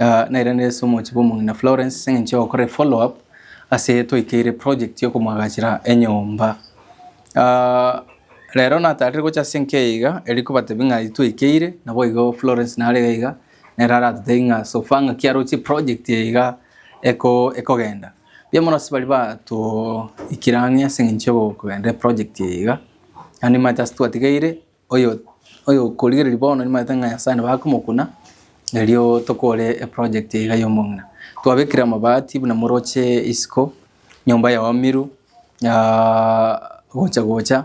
Ah, nairanire ase omochie bw'omong'ina Florence ase eng'encho yogokora efollow up ase twaikeire project yokomoagachera enyomba. Ah, rero natarire gocha ase enka eye iga, eri kobatebia ng'a twaikeire, naboigo Florence nare iga iga, nere aratotebie ng'a so far ng'aki aroche eproject eye iga eko- ekogenda. Mbuya mono ase baria batoikire ang'e ase eng'encho yokogenda eproject eye iga, naende nimanyete ase twatigeire, Oyo oyokorigereria bono nimanyete ng'a Nyasaye nabo akomokuna, erio tokore eproject eye iga y'omong'ina. Twabekire amabati buna moroche isiko, nyomba yaomiru gocha gocha,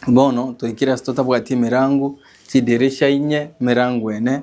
bono toikire ase totabwati emerango, chidirisha inye, emerango ene.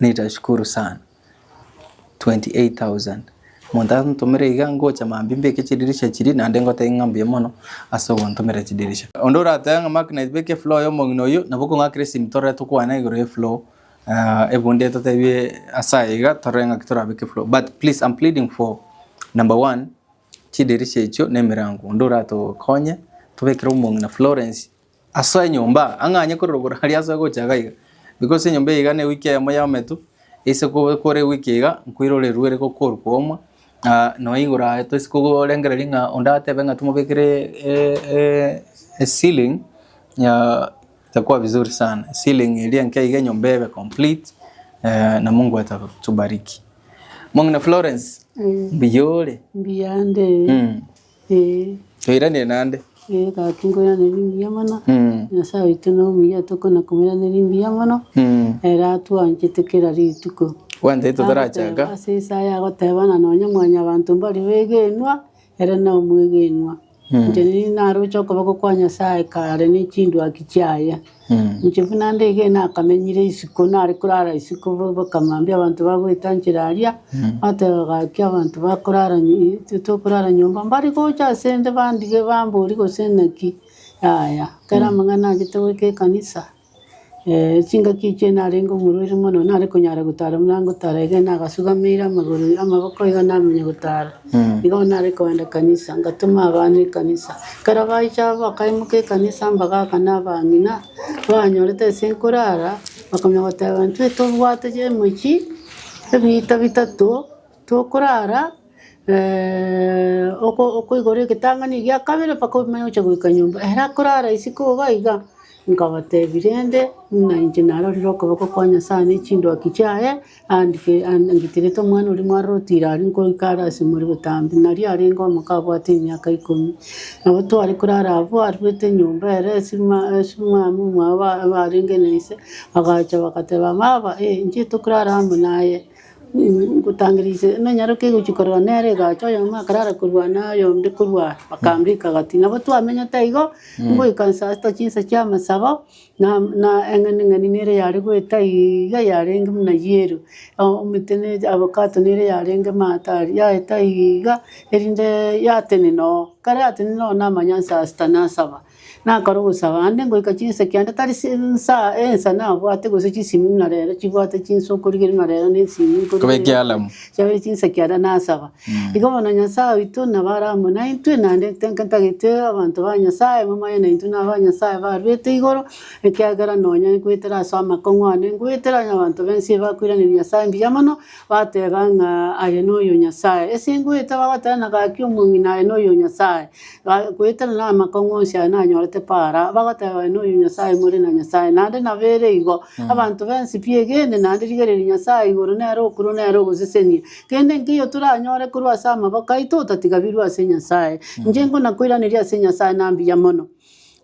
Nitashukuru sana. 28,000. Omonto antomere iga ngocha mambia mbeke chidirisha chiria naende ngotebie ng'a mbuya mono ase ogontomera chidirisha. Onde oratebe ng'a Mark naye beka efloor ya omong'ina oyio nabo okong'akera esimi torore tokwane igoro ye floor ebunde etotebie ase aya iga torore ng'aki torabeke efloor but please I'm pleading for number one chidirisha echio na emerango onde oratokonye tobekere omong'ina Florence Ase enyomba, ang'anye kororokwa aria ase ogochaka iga, because enyomba eye iga ne ewiki eyemo ya ometu, ase kobe kore ewiki eye iga, nkoirorerwe ere gokorwa kwomwa, ah, nonya igoro aye toisi kogorengereria ng'a onde atebe ng'a timobekire e- e- e ceiling ya itakuwa vizuri sana, ceiling eria enke iga enyomba ebe complete, eh, na Mungu atatubariki. Mong'ina Florence, mbuya ore? Mbuya nde. Mm. Ee. Toiranerie naende. Ee, Tata, tinkoiraneria mbuya mono, Nyasae oito nere omuya, tokona komoiraneria mbuya mono, ere atwanchete kera rituko. Bwanchete totarachaka. Agoteba ase Isaya agoteba ng'a nonya Mwanyabaanto mbari begenwa, ere nomwegenwa. Inche nigo naroche okoboko kwa Nyasae kare ne chindwaki chiaye. Inche buna ndegena akamenyire isiko, nare korara isiko bo- bokamambia abanto bagoeta nchera aria, bateba gaki abanto bakorara nyi- i- intwe tokorara nyomba, mbare gocha asende bandige bambori gose naki, yaya. Ekero amang'ana anchete goika ekanisa, chingaki echio narenge omorweri mono, nare konyara gotara buna ngotara iga nagasugameire amagoro amaboko iga namenya gotara. Nigo bono nare kogenda ekanisa, ngatoma abana ekanisa. Ekero baicha abwo bakaimoka ekanisa mbagaaka na abang'ina, banyorete ase nkorara, bakamanya goteba intwe tobwate chimichi ebiita bitato tokorara oko- okoigora egetang'ani egia kabere mpaka omanye gocha goika nyomba. Ere akorara isiko iga iga, nkabatebia rende buna inche narorire okoboko kwa Nyasaye na chindwaki chiaye. Aandikirete, Omwana oria mwa Loti ira aria nkoika are ase more botambe, nario arenge omoka abwate emiaka ikomi. Nabo tware korara abwo, aruete enyomba ere, Simiamu omwabo arenge na ise, agacha, bagateba, Baba, inche tokorara amo naye, ngotangeria ise nonyaroke gochia korora nere. Egacha oyomo akarara korwa ane, oyonde korwa aa, bakambeka gati. Nabo twamenyete igo, ngoika nsato chinsa chi'amasabo. Na eng'ening'eni nere yare goeta iga yarenge buna yello, omoteneneti avocado nere yarenge maate aria, yaeta iga erinde yatenena oo. Ekero yatenena oo namanya nsa sita nasaba, nakora ogosaba aande ngoika chinsa ekiagera tari si nsa ensa nabwate gose chisimi buna rero chibwate chinsa okorigereria buna rero na esimi Kobeka ealamu. chiabere chinsa ekiagera nasaba. Igo bono Nyasae oito nabo are amo naintwe, naende ntenka ntagete abanto ba Nyasae momoe naintwe na aba Nyasae barwete igoro, ekiagera nonya nkoetera ase amakong'u ane, nkoetera onye abanto b'ense eye bakoiraneria Nyasae mbuya mono, bateba ng'a aye noyo Nyasae. Ase nkoete bagoteba ng'a gaki omong'ina aye noyo Nyasae, ga- koetera na amakong'u onsi aya nanyorete para, bagoteba aye noyo Nyasae more na Nyasae. Naende nabo ere igo, abanto b'ense pi egene naende rigereria Nyasae igoro nere okorwa nere ogosesenia, Kende nkeiyo toranyore korwa ase amaboko aito otatigabirwe ase Nyasae. Inche nkonakoiraneria ase Nyasae na mbuya mono,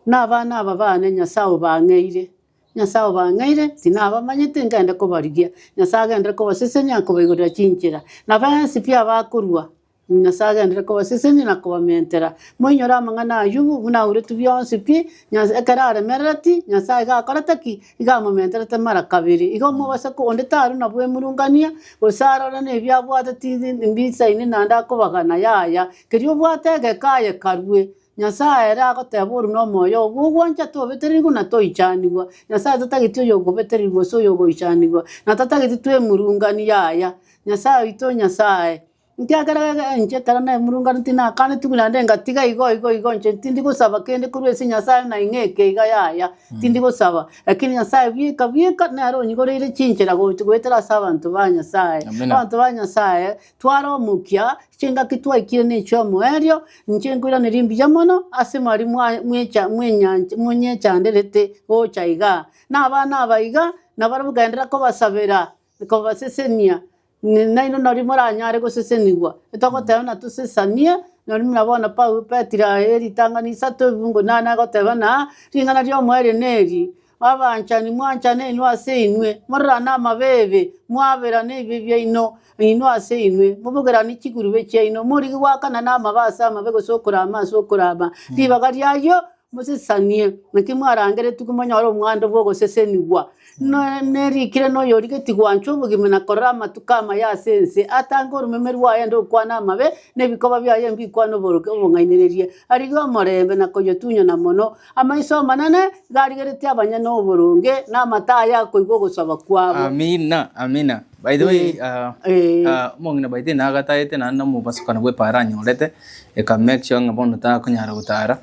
na abana aba baane Nyasae obang'eire. Nyasae obang'eire, tinabamanyete nkende kobarigia. Nyasae agenderere kobasesenia na kobaigorera chinchera. Na bensi pi abakorua, Nyasae agenderere kobasesenia na kobamentera. Moinyore amang'ana a Ayubu, buna auretwe bionsi pi, Nyasae ekero aremerereti, Nyasae iga akorete ki? iga amomenterete mara kabere. Iga omoboseke onde tare na bwemurungania, gose arore nebi abwate tiri mbisaini naende akobagana, yaya, kerio obwate egeka aye karue. Nyasae ere agoteba oru nomoyo obo ogwancha tobeterigwe na toichanigwa. Nyasae tatageti oyogobeterigwa gose oyogoichanigwa, na tatageti twemurungani, yaya, Nyasae oito Nyasae. Ekiagera iga inche ekero naimurunganu tinakanetigwe naende ngatiga igo igo igo inche tindi gosaba kende korwa ase Nyasae ng'a ing'eke iga yaya, tindi gosaba, lakini Nyasae bieka bieka nere onyigoreire chinchera gocha goetera ase abanto ba Nyasae. Amina. Abanto ba Nyasae tware omokia, chingaki twaikire na echio omoerio, inche nkoiraneria mbuya mono ase mwari mwa mwecha mwenyancha monyechanderete gocha igaa. Na abana aba iga, nabarabwo genderera kobasabera, kobasesenia, N- Nainwe nari moranyare gosesenigwa, etogoteba na tosesanie, nari muna bono Paulo Petero aye eritang'ani isato ebungo inana agoteba na ring'ana ri'omoerio neri, Abanchani, mwanchana inwe ase inwe, mororane amabeebe, mwaberane ebibe biaino inwe ase inwe, mobogerane chigurube chiaino, morige goakana namabe ase amabe gose okorama ase okorama, ribaga ri'ayio Mosesanie, naki mwarangeretigwe monyore omwando bw'ogosesenigwa, na- nerikire noyorigetie gwancha obogima na korora amatuko amaya ase ense, atange oromeme rwaye aende gokwana amabe, na ebikoba biaye mbikwane oboroke obong'ainereria. Arigie omorembe na koyotunyana mono, amaiso amanene iga arigeretie abanyene oboronge, na amato aye akoigwa ogosaba kwabo. Amina, amina. By the way, Eh, ah, eh. ah, omong'ina by the way nagatagete naende nomobasukani bw'epaara anyorete, eka make sure ng'a bono takonyara gotara.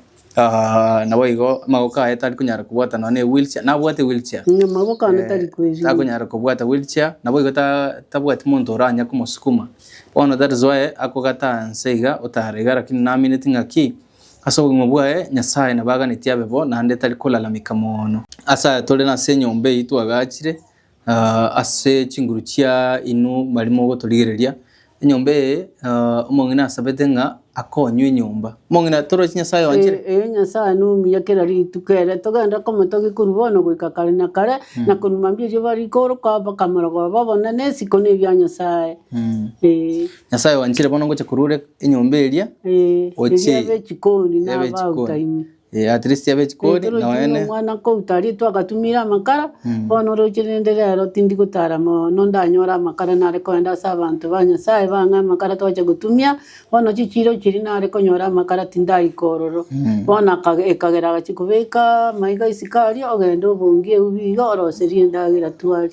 Naboigo amagoko aye tari konyara kobwata nonya ne wheel chair, nabwate wheel chair. Amagoko ane tari kwerinda. Takonyara kobwata wheel chair, naboigo tabwati monto oranya komosukuma. Bono that is why akogata anse iga otare iga lakini namineti ng'aki ase obogima bwaye Nyasaye nabo aganeti abe bo naende tari kolalamika moono. Ase aya tore nase enyomba eyio twagachire, Ah, ase chinguru chia inwe mari mogoturigereria enyomba eye, ah, omong'ina asabete ng'a akonywe enyomba. Omong'ina torochi Nyasae oanchire. Ee, ee, Nyasae nomuya kera rituko ere, togende komotogia korwa bono goika kare na kare, na korwa mambia erio barikooroka mpaka amarogoba babone nesiko na ebia Nyasae. Mm. Ee, Nyasae oanchire bono ngocha korwa ore enyomba eria, ee, Oche- eria b'echikoni na eria b'echikoni. abautaini. Eh, at least abe chikori Petero noe otiga ne omwana nkouta aria twagatumire amakara bono oroche rende rero tindi gotara mono ndanyore amakara nare kogenda ase abanto ba Nyasaye bang'e amakara twache gotumia bono chichiiro chiria nare konyora amakara tindaika ororo bono akage ekagera agachia kobeka amaiga isiko aria ogende obongie eubi iga oroserie endagera twarie.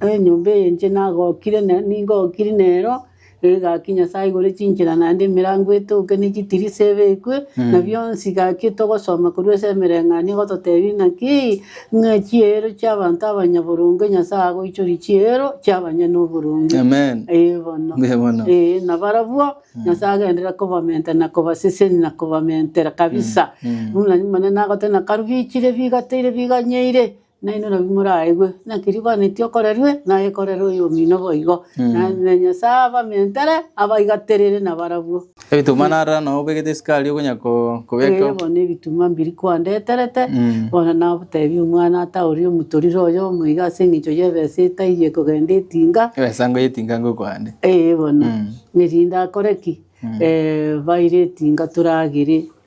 Enyomba eye inche nagokire ne ningokiri nero, egaki Nyasae igoro chinchera naende emerango etouke ne chitirisa ebekwe, na bionsi gaki togosoma korwa ase emereng'anio egototebia ng'aki, ng'a chiero chi'abanto abanyaboronge Nyasae agoichoria chiero chi'abanyene oboronge. Amen. Ee bono. Mbuya mono. Ee, na barabwo Nyasae agenderera kobamenta na kobaseseni na kobamentera kabisa. Buna mane nagoteba na karubichire bigateire biganyeire, Nainwe nabwo moraegwe naki ribanetie okorerwe nagekorera oyomino boigo, na na Nyasae abamentere abaigaterere nabarabwo. Ebituma narora nao obegete esukari okonya ko- kobeka Oye bono ebituma mbiri kwandeterete, Mm. bono nagotebia omwana ata oria omotorire oyomo iga ase eng'encho y'ebesa etaiyo ekogenda etinga, ebesa ngo yetinga ngokwa ande ee bono, Mm. erinde akore ki? Eh, baire etinga toragere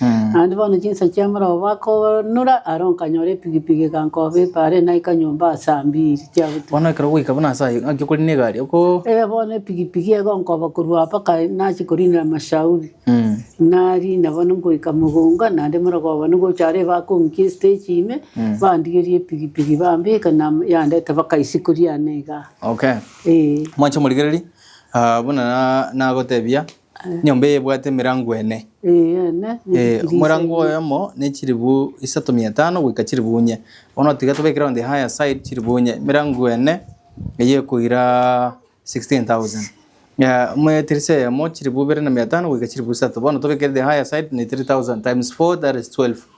Naende bono chinsa chia morao bakoonura, aro nkanyora epigipigi egankoba epaare, naika nyomba ase ambiri chiagotuga. Bono ekero goika buna ase ayio, ng'aki okorina egari, oko. Ee, bono epigipigi egonkoba korwa aba mpaka nachie korinera Mashauri. Narina bono ngoika mogonga, naende morogooba nigo ocha aree bakonkia estage ime, bandigeria epigipigi bambeka na yandete mpaka isiko riane igaa. Okay. Ee. Mwanche omorigereria, ah, buna na- nagotebia. Enyomba eye ebwate emerango ene. Eana, ne Eh, dirisha omorango ime. oyomo ne chiribu isato mia etano goika chiribu inye bono tiga tobekere on the higher side chiribu inye emerango ene eye ekoira 16000 Ya, amo edirisa eyemo chiribu ibere na mia etano goika chiribu isato bono tobekere the higher side ne 3000 times 4 that is 12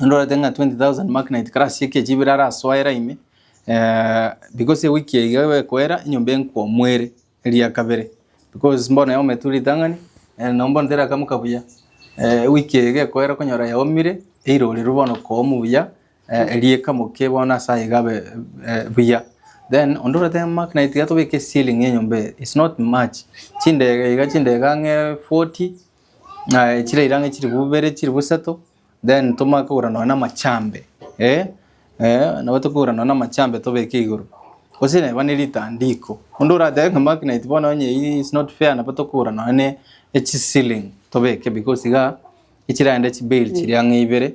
Nindorete ng'a 20,000 magnet kare ase ekechi ibere arasoera ime, eh, because ewiki eye iga egokoera enyomba enkwomwere eria kabere, because mbono yaometwe ritang'ani, eh, nabo mbono terakamoka buya, eh, ewiki eye iga ekoera okonyora yaomire, eirorerwe bono koomu buya, eh, eria ekamoke bono ase aye igabe eh, buya. Then onde orwete magnet iga tobeke ceiling ya enyomba eye, it's not much, chindege iga chindege ang'e forty, Aye chire irang'a chilifu ibere chilifu isato then tomanye kogora nonye na amachambe eh eh nabo tokogora nonye na amachambe tobeke igoro. Gose neba ne ritandiko, onde oratebe ng'a maki night bono onye eyio is not fair nabo tokogora nonye ne echisiling tobeke because igaa echiragenda chibeli chire ang'e ibere.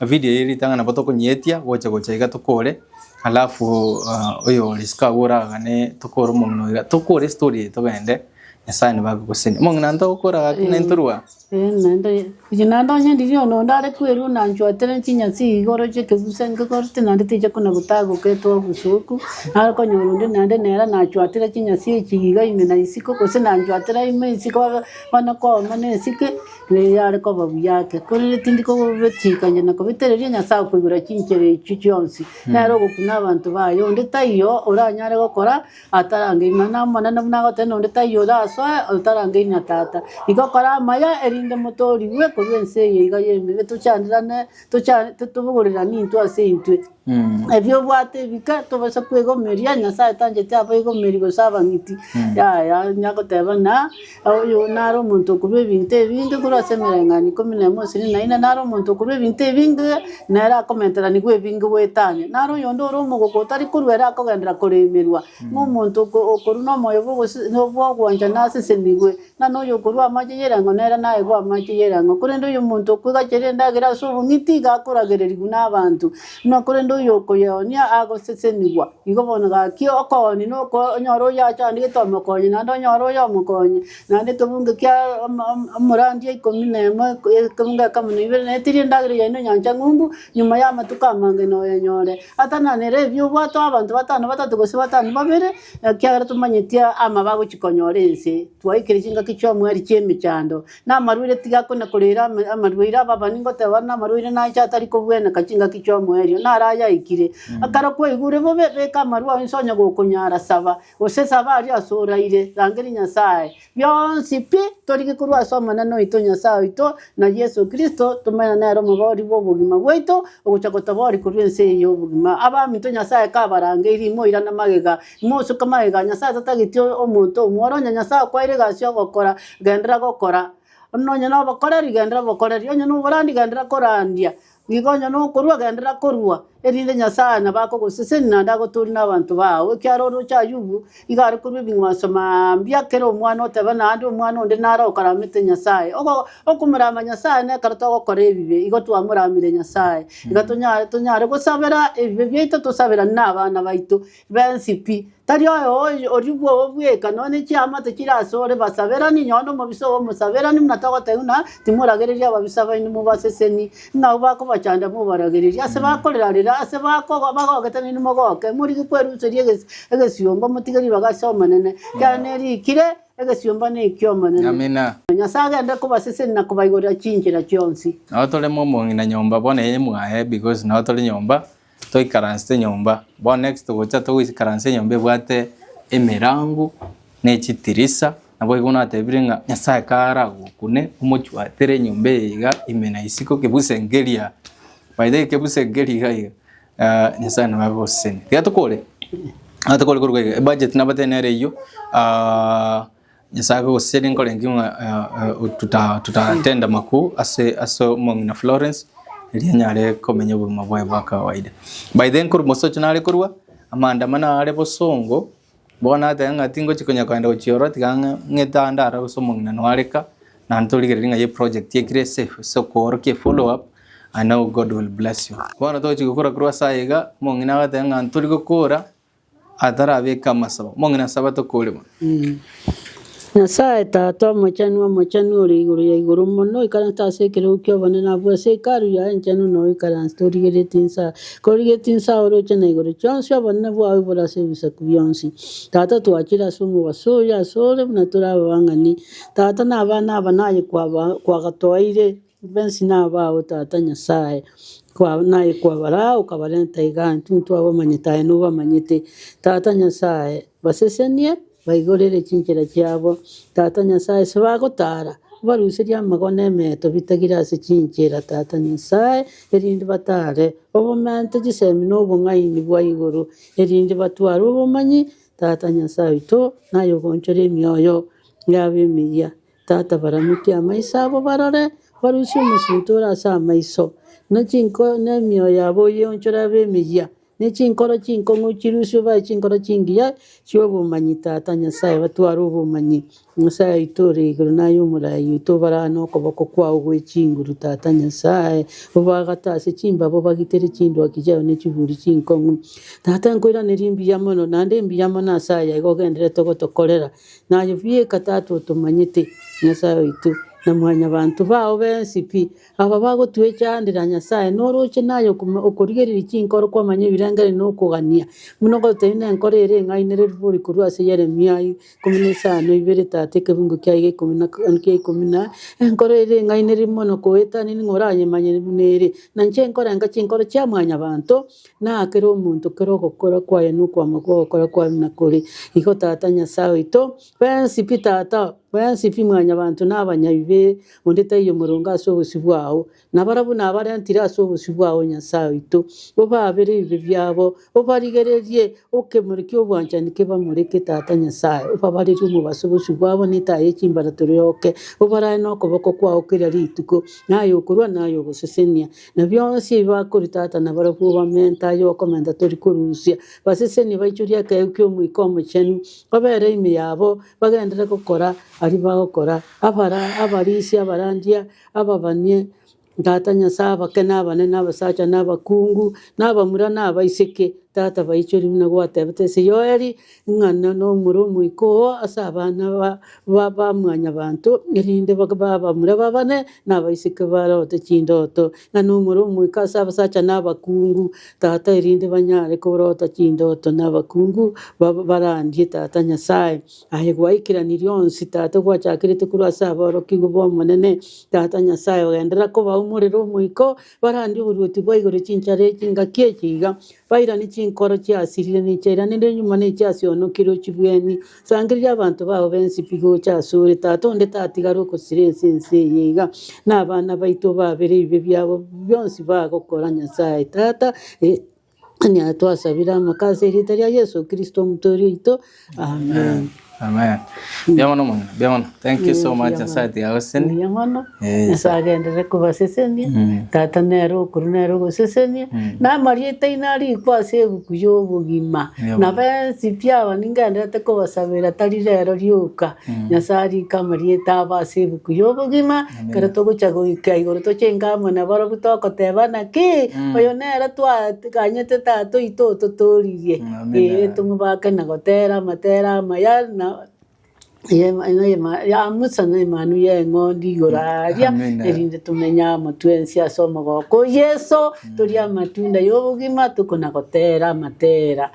Video eye ritang'ani nabo tokonyeetia gocha gocha iga tokore alafu oyore isiko agwo oragane tokore omong'ina oiga tokore story eye togende Nyasaye nigo agogoseni. Omong'ina nto okora gaki na into rwa. Eeh naende oye oye naende onye ndiria ono onde are kwerwa na anchwate ne chinyasi iga oroche ekegusii ngegorete naende tiga kona gotagoka etoa obosoku naro okonyora onde naende nere nachwatire chinyasi echi iga ime na isiko gose nachwatire ime isiko bono kwauma na esike Nere are koba buya ake, korende tindi kogobetikania na kobetereria Nyasae okoigwera chinchera echio chionsi, nere ogokuna abanto baye. Onde taiyo oranyare gokora atarangeiri, nonya n'Omonene buna agotebire, nonde taiyo orasoe otarangeiri na Tata. Igo kora amaya, erinde motoorigwe korwa ense eye iga y'ebibe, tochandirane, tocha, titobogorerani intwe ase intwe. Ebi obwate ebike, tobasa kwegomeria, Nyasae tancheti abaigomeri gose abang'iti, yaya, onya goteba ng'a oyo nare omonto okorua ebinto ebinge korwa ase emereng'anio ikomi na emo gose ikomi na ine, nare omonto okorua ebinto ebinge, nere akomenteranigwa ebinge goetania. Nare oyonde ore omogoko otari korua ere akogenderera koremerwa, ng'a omonto oko- okorua na omoyo bwa ogose- na bwa ogwanchana asesenigwe. Ng'ana oyokorua amache y'erango nere naegwe amache y'erango, korende oyomonto okwegachera endagera ase obong'iti iga akoragererigwa nabanto, na korende oyokoyeonia agosesenigwa. Igo bono gaki okooni na okooni, onyore oyachandegete omokonye, naende onyore oyomokonye, naende ekebunga kia om- om- omorandia ikomi na emo, ekebunga ekemo na ibere, na etiri endagera yaino enyancha ng'umbu, nyuma y'amatuko amange noyenyore. Atananera ebi obwate abanto batano batato gose batano babere. Ekiagera tomanyeti aama bagochia konyora ense, twaikire chingaki chi'omweri chi'emechando, na amarwaire tigakona koreera ame- amarwaire ababa, ningoteba are namarwaire nache atari kobweneka chingaki chi'omweri oyio, naro ayaikire. Ekero kwaigure bobe, beka amarwa ao inse onye gokonyara, saba, gose saba aria ase oraire, rangeria Nyasae, Bionsi pi torigie korwa ase Omonene oito Nyasae oito, na Yeso Kristo, tomenye nere omoboori bw'obogima bwaito, ogocha gotaboori korwa ense eye y'obogima. Abaminto, Nyasae kabarangeirie, imoirane magega, imosuke magega. Nyasae tatageti omonto omwore, onye Nyasae okwaire egasi y'ogokora, genderera gokora, onye nobokoreri, genderera bokoreri, onye noborandi, genderera korandia, Nigo onye nokorua genderera korua, erinde Nyasae nabakogoseseni naende agotoori nabanto bao. Ekiagera orooche Ayubu iga are korua ebing'wanso mambia kera omwana oteba naende omwana onde nare okaramete Nyasae. Ogo okomorama Nyasae nekero togokora ebibe, igo twamoramire Nyasae. Iga tonyare tonyare gosabera ebibe biaito tosaberane nabana baito, Bensi pi, tari oyoyo origwo ogobweka nonye chiamate chire asore basaberani, nonye omobisa obo omosaberani, buna togoteba ng'a timoragereria ababisa baino mobaseseni, ng'ao bakobachanda mobaragererie, ase bakorera rera, ase bakogo bagogete nainwe mogoke, morige kweruseria egesi egesiomba motige ribaga ase Omonene, ekiagera nerikire, Egesiomba neki'Omonene. Amina. Nyasae agende kobaseseni na kobaigorera chinchera chionsi. Nao tore momong'ina nyomba bono eye mwaye because nao tore nyomba Toikaranse nyomba, bono next togocha togoikaranse enyomba ebwate emerango na echitirisa, naboigo natebire ng'a Nyasaye karagokune omochwatere enyomba eye iga ime na isiko kebuse nkeria. By the way kebuse nkeria iga iga, ah, Nyasaye nabo agosesenie. Tiga tokore, nigo tokore koruga iga, ebudget nabatebi nere eyio, ah, Nyasae akogosiseria nkorengie ng'a totatende amakuu ase omong'ina Florence erio anyare komenya obogima bwaye bwa kawaida. By then korwa mosocho nare korwa, amaandamano aare bosongo, bono ateba ng'a tingochia konya kogenda gochia ororo tiga ng'a ng'ete ande aro gose omong'ina noo areka, naende torigereria ng'a eyio eproject ekire ase ase okoorokia efollow up and now God will bless you. Bono togochia gokora korwa ase aye iga, omong'ina agateba ng'a ntori gokora atarabeke amasabo. Omong'ina o Sabato kore bo. Nyasae Tata Omochenu, Omochenu ore igoro ya igoro mono, oikaranste ase ekerogo ki'obonene abwo ase Hekalu yaye enchenu, na oikaranste origeretie inse korigeretie inse aoroche na igoro chionsi, obonene bwao bore ase ebisaku bionsi. Tata, twachire ase omobaso oyo asore buna tore ababang'ani, Tata, na abana aba naye kwaba kwagatoeire. Inbensi nabaao, Tata Nyasae, kwao naye kwabaraa, okabarenta igaa, intwe ntitwabamanyete, aye nobamanyete. Tata Nyasae, basesenie, baigorere chinchera chiabo, Tata Nyasae, ase bagotaara, obaruserie amago na emeeto bitagire ase chinchera, Tata Nyasae, erinde bataare obomante chisemi na obong'aini bwa igoro, erinde batware obomanyi, Tata Nyasae oito, naye ogoonchore emioyo yabo emeyia. Tata, baramokie amaiso abo barore, barusie omosinto ore ase amaiso, na chinko na emioyo yabo oyeonchore abe emeyia, ne chinkoro chinkong'u chirusiwe babe chinkoro chingiya chi'obomanyi, Tata Nyasae, batware obomanyi. Nyasae oito ore igoro na aye Omoraai oito, obarare nokoboko kwao gwe chinguru, Tata Nyasae, obaagate ase chimbaaba, obagitere chindwaki chiao ne chiburi chinkong'u. Tata, nkoiraneria mbuya mono, naende mbuya mono ase aya igo ogendererete gotokorera. Naye pi eka Tata otomanyete, Nyasae oito, na mwanyabanto bao bensi pi, aba bagotwechandera Nyasae, norooche naye okoma- okorigereria chinkoro kwamanya ebirengererio na okogania, buna ogototebia nenkoro ere eng'ainereru bori korwa ase Yeremia aya ikomi na isano ibere tata ekebungo kiaye gia ikomi na ka- gia ikomi na enkoro ere eng'ainereru mono koetanini ng'a oranyemanye buna ere. Na inche nkorenga chinkoro chia mwanyabanto Na kera omonto kera ogokora kwaye na okwama kw'ogokora kwaye buna kore, igo Tata Nyasae oito, bwensi pi Tata, bwensi pi Mwanyabaanto na abanyabibe, onde taiyo omoronge ase obosio bwao. Na barabwo nabarentire ase obosio bwao, Nyasae oito, obaabere ebibe biabo, obarigererie ekemori ki'obwanchani kebamoreke, Tata Nyasae, obabarerie omobaso bosio bwabo na etaya ye chimbarato rioke, obarare nokoboko kwao kera rituko, na aye okorua na aye ogosesenia. Na bionsi ebi bakoritotana barabwo bamenta aye okomenta tori korusia, basesenie baichorie ekeegu ki'Omoika Omochenu, babeere ime yabo, bagenderere gokora aria bagokora, abara, abarisia, abarandia, ababanie, Tata Nyasae, abake, na abanene, na abasacha, na abakungu, na abamura, na abaiseke, Tata, baichorie buna gwatebete ase Yoeli, Ing'ana nomura omoika oo ase abana ba bamwanyabanto, erinde babe abamura b'abane na abaiseke barote chindoto, ng'a nomura omoika ase abasacha na abakungu tata, erinde banyare korota chindoto na abakungu barandie tata Nyasae. Aye gwaikeranirie onsi tata ogwachakerete korwa ase aborokigwa b'Omonene tata Nyasae, ogenderera kobaumorera omoika oo Barandie oboruoti bwa igoro chinchara echi, engaki echi iga, bairane chinkoro chiasirire ne chiairanire nyuma ne chiasionokirwe chibweni. Sangeriria abanto bao b'ensipi gocha asore, Tata onde tatigare ogosira ense ense eye iga, na abana baito obabere ebibe biabo bionsi bagokora Nyasae, Tata, Onye twasabire amaka ase erieta ria Yesu Kristo Omotoori oito. Amen. Amen. Mbuya mono mono, mbuya mono. Thank you so much Nyasaye ati agoseseni. Mbuya mono. Eh, Nyasaye agenderere kobasesenia. Tata nere okuru nere ogosesenia. Na amarieta aino arikwa ase ebuku y'obogima. Mbuya mono. Na bensi pi aba ningenderete kobasabera tari rero rioka. Nyasaye arike amarieta abo ase ebuku y'obogima. Ekero togocha goika igoro tochenga amo nabarobwo togotebana ki? Oyo nere twaganyete tata oito ototuririe. Ee tomobake na gotera amatera amaya na ya Musa na emanu y'eng'ondi igoro aria erinde tomenye amo twensi ase omogoko o Yeso torie amatunda y'obogima tokona gotera amatera.